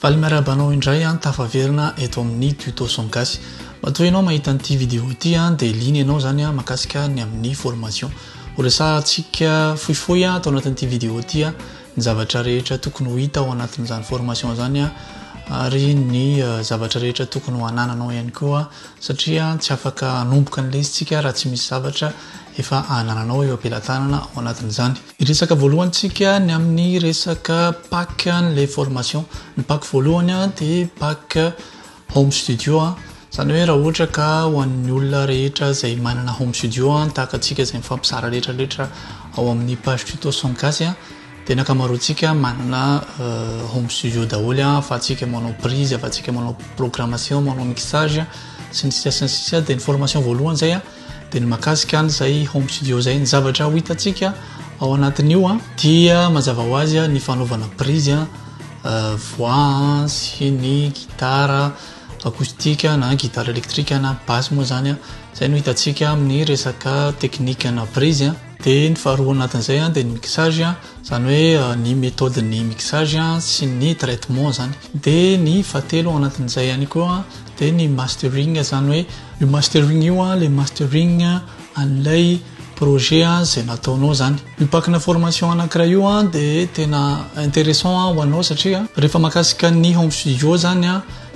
Valy miarahaba anao indray an tafaverina eto amin'ny tuto son gasy matoa ianao mahita an'ity vidéo ity an dia liana ianao zany an makasika ny amin'ny formation ho resahantsika fohifohy an atao anatin'ity vidéo ity an ny zavatra rehetra tokony ho hita ao anatin'izany formation zany an ary ny zavatra rehetra tokony ho anananao ihany koa satria tsy afaka hanomboka ny lesintsika raha tsy misy zavatra efa anananao eo am-pelatanana ao anatin'izany. Hiresaka voalohany tsika ny amin'ny resaka pack an'ilay formation. Ny pack voalohany dia pack home studio, izany hoe raha ohatra ka ho an'ny olona rehetra izay manana home studio tahaka antsika izay mifampizara rehetra rehetra ao amin'ny page tuto son gasy dia ny ankamaroantsika manana home studio daholo afa-tsika manao prise, afa-tsika manao programmation, manao mixage sy ny sisa sy ny sisa dia ny formation voalohany izay dia ny makasika any izay home studio izay ny zavatra ho hitantsika ao anatin'io a dia mazava ho azy a ny fanaovana prise a euh, voix sy ny gitara acoustique na gitara électrique na basse moa zany a izay no hitantsika amin'ny resaka technique na prise a dia ny faharoa anatin'izay a dia ny mixage a Izany hoe ny méthode ny mixage sy ny traitement izany. Dia ny fahatelo ao anatin'izay ihany koa dia ny mastering izany hoe io mastering io ilay mastering an'ilay projet izay nataonao izany. Io pack-na formation anankiray io dia tena intéressant ho anao satria rehefa mahakasika ny home studio izany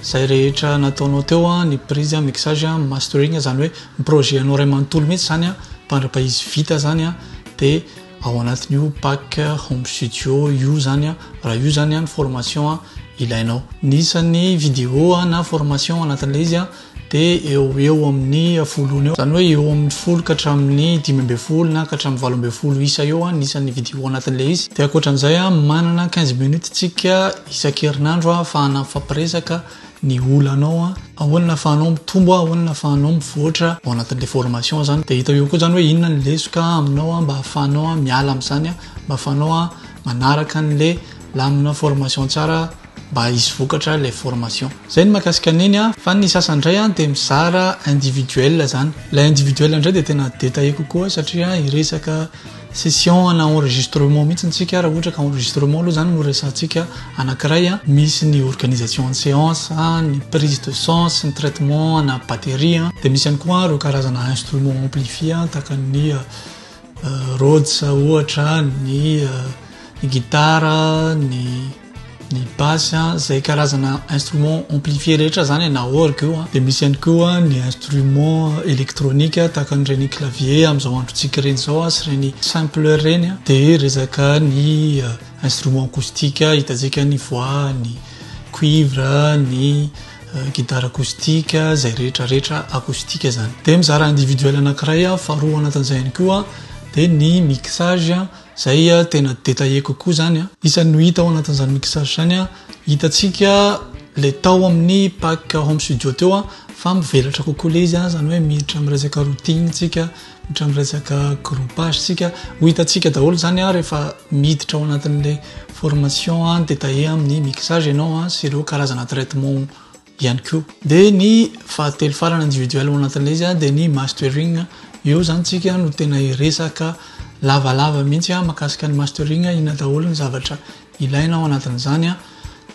izay rehetra nataonao teo, ny prise, ny mixage, ny mastering izany hoe ny projet-nao iray manontolo mihitsy izany, mandra-paha izy vita izany dia... Ao anatin'io pack home studio io zany a, raha io zany a ny formation ilainao. Ny isan'ny video na formation anatin'ilay izy a dia eo ho eo amin'ny folo eo, zany hoe eo amin'ny folo ka hatramin'ny dimy ambin'ny folo na ka hatramin'ny valo ambin'ny folo isa eo ny isan'ny video anatin'ilay izy. Dia ankoatran'izay a manana quinze minutes tsika isan-kerinandro ahafahana mifampiresaka ny olanao a, ahoana ahafahanao mitombo a, ahoana ahafahanao mivoatra ao anatin'ilay formation zany, de hita eo koa zany hoe inona ny lesoka aminao a, mba ahafahanao miala amin'izany a, mba ahafahanao manaraka an'le lamina formation tsara mba hisy vokatra ilay formation. Zay ny mahakasika an'iny a, fa ny sasany indray a de mizara individuel zany, ilay individuel indray de tena détaillé kokoa satria hiresaka Session ana enregistrement mihitsy ny tsika raha ohatra ka enregistrement aloha zany no resahantsika anakiray a, misy ny organisation ny seance a, ny prise de sang sy ny traitement ana batterie a, de misy ihany koa ireo karazana instrument amplifier a tahaka ny Rhodes ohatra, ny guitare, ny. ny basse a zay karazana instrument amplifier rehetra zany na orgue io a de misy ihany koa ny instrument électronique tahaka an'ireny clavier amin'izao androntsika ireny zao a sy ireny simpleur ireny a de resaka ny euh, instrument acoustique hitantsika ny voix ny cuivre ny euh, guitare acoustique zay rehetra rehetra acoustique zany de mizara individuel anankiray a faharoa anatin'izay ihany koa de ny mixage Izay tena détaillé kokoa izany an. Isan'ny ho hita ao anatin'izany mixage izany an, hitantsika ilay tao amin'ny pack home studio teo an, fa mivelatra kokoa ilay izy an, izany hoe miditra amin'ny resaka routing tsika, miditra amin'ny resaka groupage tsika, ho hitantsika daholo izany an rehefa miditra ao anatin'ilay formation détaillé amin'ny mixage ianao an, sy ireo karazana traitement. ihany koa. Dia ny fahatelo farany individuel ao anatin'ilay izy dia ny mastering. Eo izany isika no tena hiresaka lavalava mihitsy mahakasika ny mastering, inona daholo ny zavatra ilaina ao anatin'izany.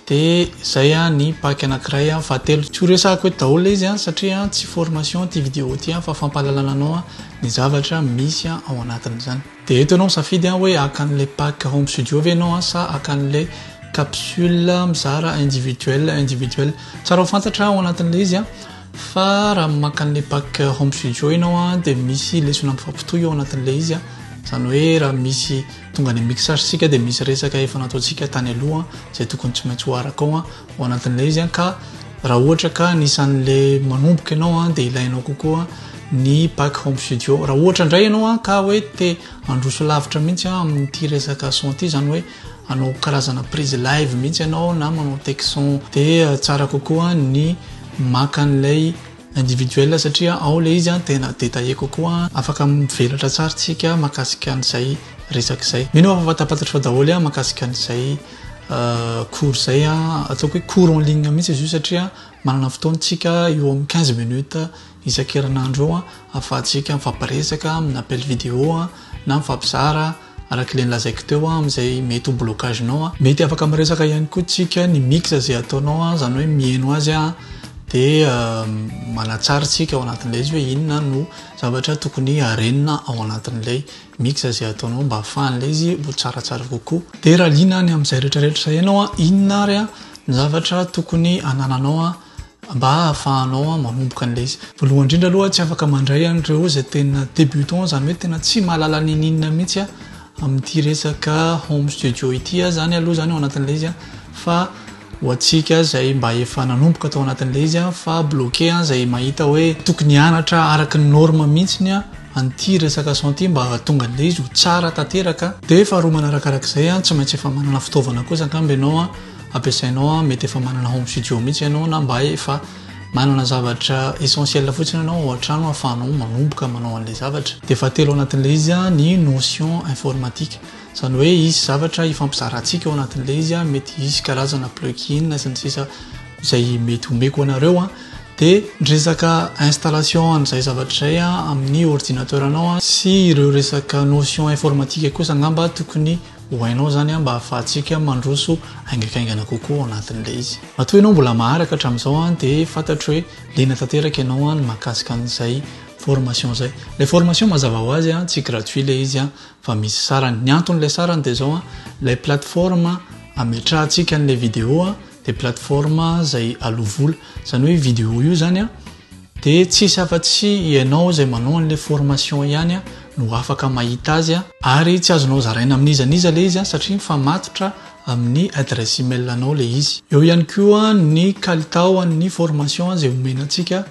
Dia izay ny pack anankiray fahatelo. Tsy horesahako eto daholo ilay izy satria tsy formation ity vidéo ity fa fampahalalana anao ny zavatra misy ao anatin'izany. Dia eto ianao misafidy an, hoe haka an'ilay pack home studio ve ianao an, sa haka an'ilay capsule mizara individuel individuel. Tsara ho fantatra ao anatin'ilay izy an, fa raha maka an'ilay pack home studio ianao an, dia misy lesona mifampitohy ao anatin'ilay izy an, izany hoe raha misy tonga any mixage isika dia misy resaka efa nataontsika tany aloha izay tokony tsy maintsy ho araka ao an, ao anatin'ilay izy an, ka raha ohatra ka anisan'ilay manomboka ianao an, dia ilainao kokoa. ny back home studio raha ohatra indray ianao an ka hoe te handroso lavitra mihitsy an amin'ity resaka son ity izany hoe anao karazana prise live mihitsy ianao na manao texon de euh, tsara kokoa ny maka an'ilay individuel satria ao le izy an tena détaillé kokoa afaka mivelatra tsara tsika makasika an'izay resaka izay mino aho fa fantapantatra fa daholo an makasika an'izay euh, cours izay an ataoko hoe cours en ligne mihitsy izy io satria manana fotoantsika eo amin'ny 15 minutes isan-kerinandro io ahafahantsika mifampiresaka amin'ny appel vidéo na mifampizara araka ilay nolazaiko teo amin'izay mety ho blocage-nao. Mety afaka miresaka ihany koa tsika ny mix izay ataonao izany hoe miheno azy dia manatsara tsika ao anatin'ilay izy hoe inona no zavatra tokony harenina ao anatin'ilay mix izay ataonao mba hahafahan'ilay izy ho tsaratsara kokoa. Dia raha liana any amin'izay rehetra rehetra izay ianao inona ary ny zavatra tokony hanananao mba hahafahanao manomboka an'ilay izy. Voalohany indrindra aloha tsy afaka mandray an'ireo izay tena débutant izany hoe tena tsy mahalala n'inon'inona mihitsy amin'ity resaka home studio ity izany aloha izany ao anatin'ilay izy fa ho antsika izay mba efa nanomboka tao anatin'ilay izy fa bloqué izay mahita hoe tokony hianatra araka ny norme mihitsy ny an'ity resaka son ity mba hahatonga an'ilay izy ho tsara tanteraka dia faharoa manarakarak'izay tsy maintsy efa manana fitaovana kosa angamba ianao ampiasainao an, mety efa manana home studio mihitsy ianao na mba efa manana zavatra essentiel fotsiny ianao ao an-trano ahafahanao manomboka manao an'ilay zavatra. Dia fahatelo ao anatin'ilay izy an, ny notion informatique. Izany hoe hisy zavatra hifampizarantsika ao anatin'ilay izy an, mety hisy karazana plug-in sy ny sisa izay mety omeko anareo an. Dia ny resaka installation an'izay zavatra izay an amin'ny ordinateur-nao an sy ireo resaka notion informatique kosa angamba tokony Ho hainao izany mba hahafahantsika mandroso haingaikaingana kokoa ao anatin'ilay izy. Matoa ianao mbola maharaka hatramin'izao dia fantatro hoe liana tanteraka ianao ny mahakasika an'izay formation izay. Ilay formation mazava ho azy tsy gratuit ilay izy fa misy sarany. Ny anton'ilay sarany dia izao, ilay plateforme ametrahantsika an'ilay vidéo dia plateforme izay aloa vola. Izany hoe io vidéo io izany a. De tsisy afa tsy ianao izay manao anle formation ihany no afaka mahita azy a. Ary tsy azonao zaraina amin'iza n'iza le izy satria mifamatotra amin'ny adresse email anao le izy. Eo ihany koa ny kalitao an'ny formation izay omena antsika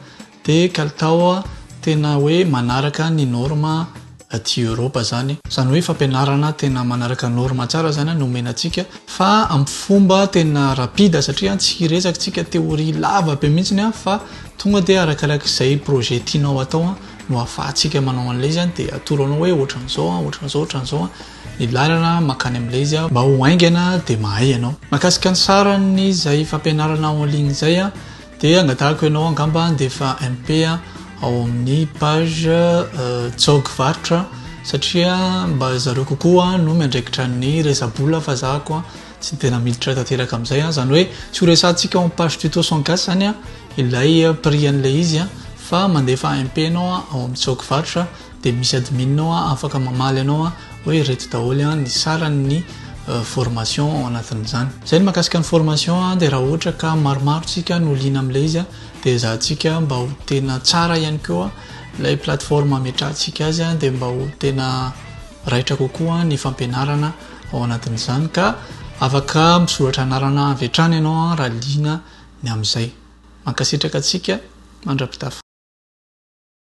de kalitao tena hoe manaraka ny norme aty Europa zany. Zany hoe fampianarana tena manaraka norme tsara zany no omena antsika fa am fomba tena rapide satria tsy hiresaka tsika théorie lava be mihitsiny fa tonga dia arakaraky zay projet tianao atao no afahatsika manao anle izy dia atoro anao hoe otranzao otranzao otranzao ny lalana makany amle izy mba ho haingana dia mahay ianao. Mahakasika ny sarany zay fampianarana en ligne zay Dia angatahako ianao angamba handefa MP ao amin'ny page Jog varotra satria mba zareo kokoa no miandraikitra ny resa-bola fa za koa tsy tena miditra tanteraka amin'izay. Izany hoe tsy ho resahantsika ao amin'ny page tuto sans casse izany ilay prix an'ilay izy fa mandefa MP ianao ao amin'ny Jog varotra. dia misy admin ao an afaka mamaly anao an hoe ireto daholo an ny saran'ny formation ao anatin'izany zay ny makasika ny formation an dia raha ohatra ka maromaro tsika no liana amin'ilay izy an dia ezahantsika mba ho tena tsara ihany koa ilay plateforme ametrahantsika azy an dia mba ho tena raitra kokoa ny fampianarana ao anatin'izany ka afaka misoratra anarana avy hatrany ianao an raha liana ny amin'izay mankasitraka antsika mandra-pitafa